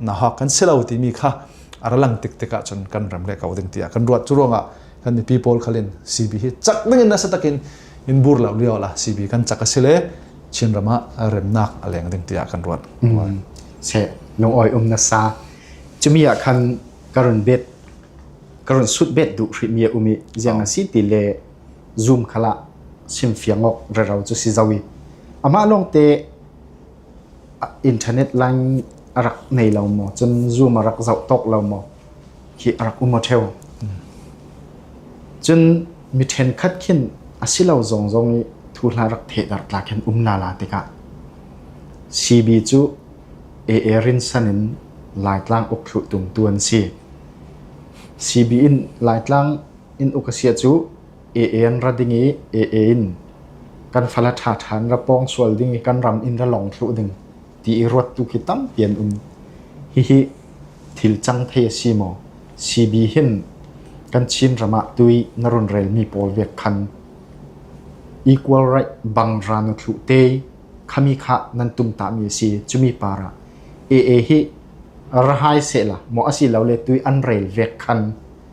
na hak kan si lo timi kha a ralang tiktik ahcun kan ram le ko ding tiah kan ruat cu ruangah kan mipi pawl khalin CB hi chak dingin nasa takin in bur lo lio la CB kan chak a si le Chin ram ah remnak a leng ding tiah kan ruat se nong oi um na sa chumi ah khan karun bet karun sut bet du hri mi umi jiang a si ti le zoom khala sim fiang ok ra ro chu si zawi ama long te internet line a rak nei lo maw cun zoom a rak zoh tawk lo maw hi a rak um a theo cun mi ṭhenkhat khin a si lo zong zong i thu hla rak thehdarh tla khin um la la tikah CB cu AA rinsan in Laitlang uk thlu tumtu an si CB in Laitlang in uk a sia cu Een ra ding i Een kan fale ṭhaṭhan ra pawng sual ding i kan ram in ra lawng thluh ding ti i ruat tu khi tampi an um. Hihi thil cang thei a si maw? CB hin kan Chin ram ah tui na run relmi pawl vek khan equal right bang ra na thluh te khami kha nan tum tami a si. Cumi para Ee hi rahai sehla maw a si lo le tui an rel vek khan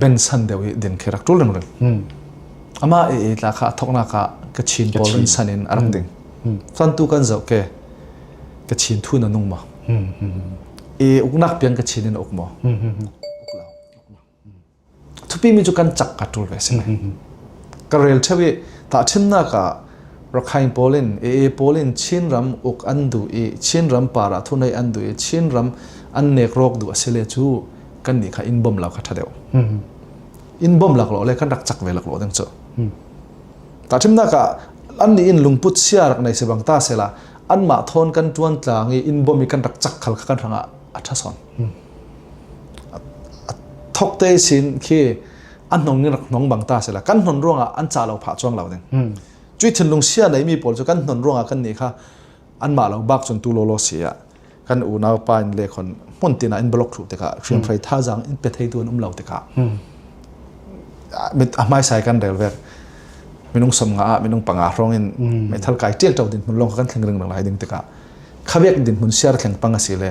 bensan deuh i din khi rak ṭul rimrim amah i etla kha a thawknak ah kachin pawl in san in a rak ding cun tu kan zoh ke kachin thu na nung ma i uknak piang kachin in uk maw thupi mi cu kan chak ka ṭul ve si ka rel theo i tah ṭhimnak ah Rakhain pawl in, Ee pawl in Chinram uk an duh i Chinram parah thunei an duh i Chinram an nek rawk duh a si le cu kan nih kha inn bawm lak kha ṭha deuh. Inn bawm laklawh le kan rak chak ve laklawh ding cu. Tahṭimnak ah an nih in lungput sia rak nei sebang ta sela anmah thawn kan ṭuan tlang i inn bawm i kan rak chak khal kha kan hrangah a ṭha sawn. A thok te sin khi an hnong in rak hnong bang ta sela kan hnon ruangah an ca lo phah chuang lo ding cui thinlung sia nei mi pawl cu kan hnon ruangah kan ni kha an ma lo bak chun tu lo lo sia kan unau pa in le khon mun tina in block thru tika hriam phrai tha jang in pe thei tu an um lo tika mit a mai sai kan rel vek minung som nga minung panga hrong in me thal kai tel tau din mun long kan thling ring lai ding tika khavek din mun siar thleng panga si le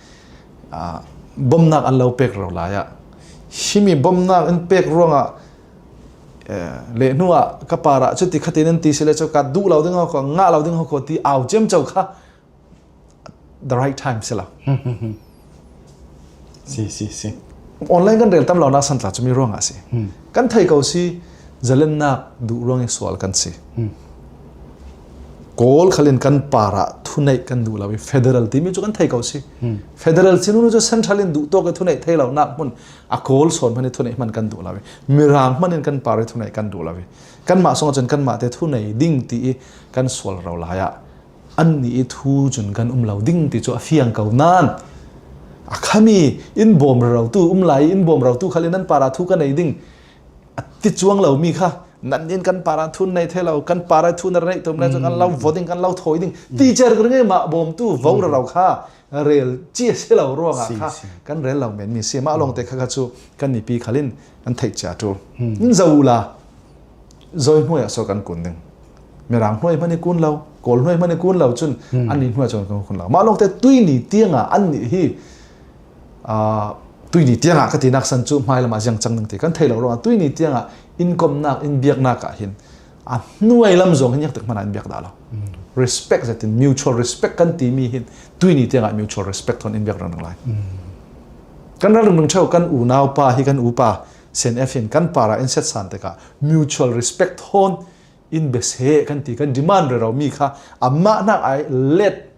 bawmnak an lo pek ro lai ah himi bawmnak in pek ruangah le hnu ah ka para cu ti khatin an ti sile cu ka duh lo ding ho nga lo ding ho ko ti au cem chau kha the right time sila si si si online kan rel tam lo na san tla chu mi ruang asi kan thai ko si zalennak du ruang sual kan si Kawl khalin kan par ah thuneih kan duh lo i federal timi cu kan thei ko si. Hmm. Federal sinu nu cu central in duh tawk i thuneih thei lo nak hmun a kawl sawn hman i thuneih hman kan duh lo i mirang hman in kan par i thuneih kan duh lo i kan mah song cun kan mah te thunei ding ti i kan sual ro lai ah an ni i thu cun kan um lo ding ti cu a fiang ko nan a khami in bom ro tu um lai in bom ro tu khal in an para thu kan ei ding a ti chuang lomi kha nan in kan para thun nei the lo kan para thun ar nei tum lai chu kan lo vo ding kan lo thoi ding teacher gre nge ma bawmtu vo ra ro kha rel chi se lo ruanga kha kan rel lo men mi si ma long te kha kha chu kan ni pi khalin kan thei cha tu in zola zoi hnuai so kan kun ding mirang hnuai mani kun lo kol hnuai mani kun lo chun an ni hnuai chon kun lo ma long te tui ni tianga an ni hi tuini tiangah ka tinak san cu hmai lam ah ziang cang ding ti kan thei lo ruangah tuini tiangah inkomnak in biaknak ah hin a hnuai lam zong hin yak tak hmana in biak da lo respect zetin mutual respect kan ti mi hin tuini tiangah mutual respect thon in biak rang lai kan ral nung cheu kan unau pa hi kan upa sen f hin kan para in set san tekah mutual respect thon in bes he kan ti kan demand re ro mi kha amma nak ai let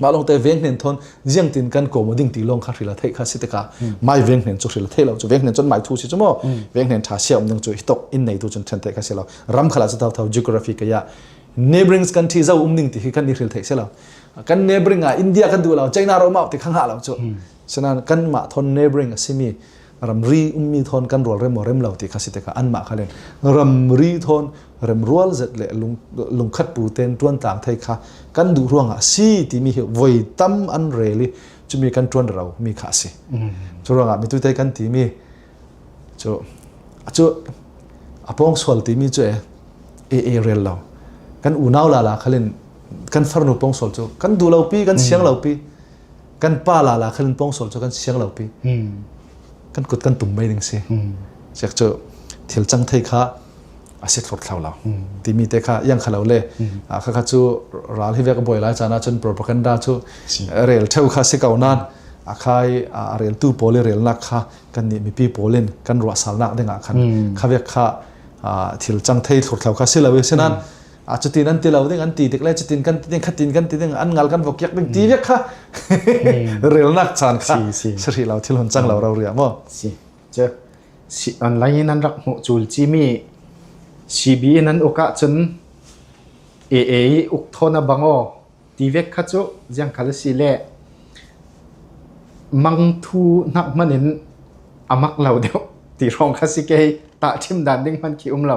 mah longte veng hnen thon jiang tin kan ko mo ding ti long kha hrila thei kha si tikah mai veng hnen chu hrila thei lo chu veng hnen chon mai thu si chu mo veng hnen tha sia um ding chu hitok in nei tu chon chen te kha si lo ram khala chu thau thau geography ka ya neighboring country zo um ding ti hi kan ni hril thei se lo kan neighboring a india kan du lo china ro ma ti khang ha lo chu sena kan ma thon neighboring asimi ramri ummi thon kan rual rem rem lo ti kha si tikah anmah kha len ramri thon rem rual zet le lungkhat pu ten tuan tang thei kha kan duh ruang ah si timi hi voi tam an reli cumi kan tuan ro mi kha si cu ruang ah mi tu te kan ti mi cu cu apong sual timi cu e e rel lo kan unau la la khalin kan farnu pong sual cu kan du lo pi kan siang lo pi kan pa la la khan pawngsol cu kan siang lo pi kan kut kan tum mai ding si chek cu thil chang thei kha asi thlot thlau la timi te kha yang khalo le kha kha chu ral hi vek boi lai chana chun propaganda chu rel theu kha si kau nan akhai rel tu pole rel nak kha kan ni mi pi polin kan ro sal nak ding a khan kha vek kha thil chang thei thlot thlau kha si lo sinan a cutin an ti lo ding an ti dik le cutin kan ti ding khatin kan ti ding an ngal kan vokiak ding ti vek kha relnak chan kha sri lo thil hun chang lo ro ria mo si che si online in an rak mu chul chi mi CB nan uka chun AA uk thona bango ti vek kha chu jang khala si le mang thu nak manin amak lo deu ti rong kha si ke ta thim dan ding man ki um lo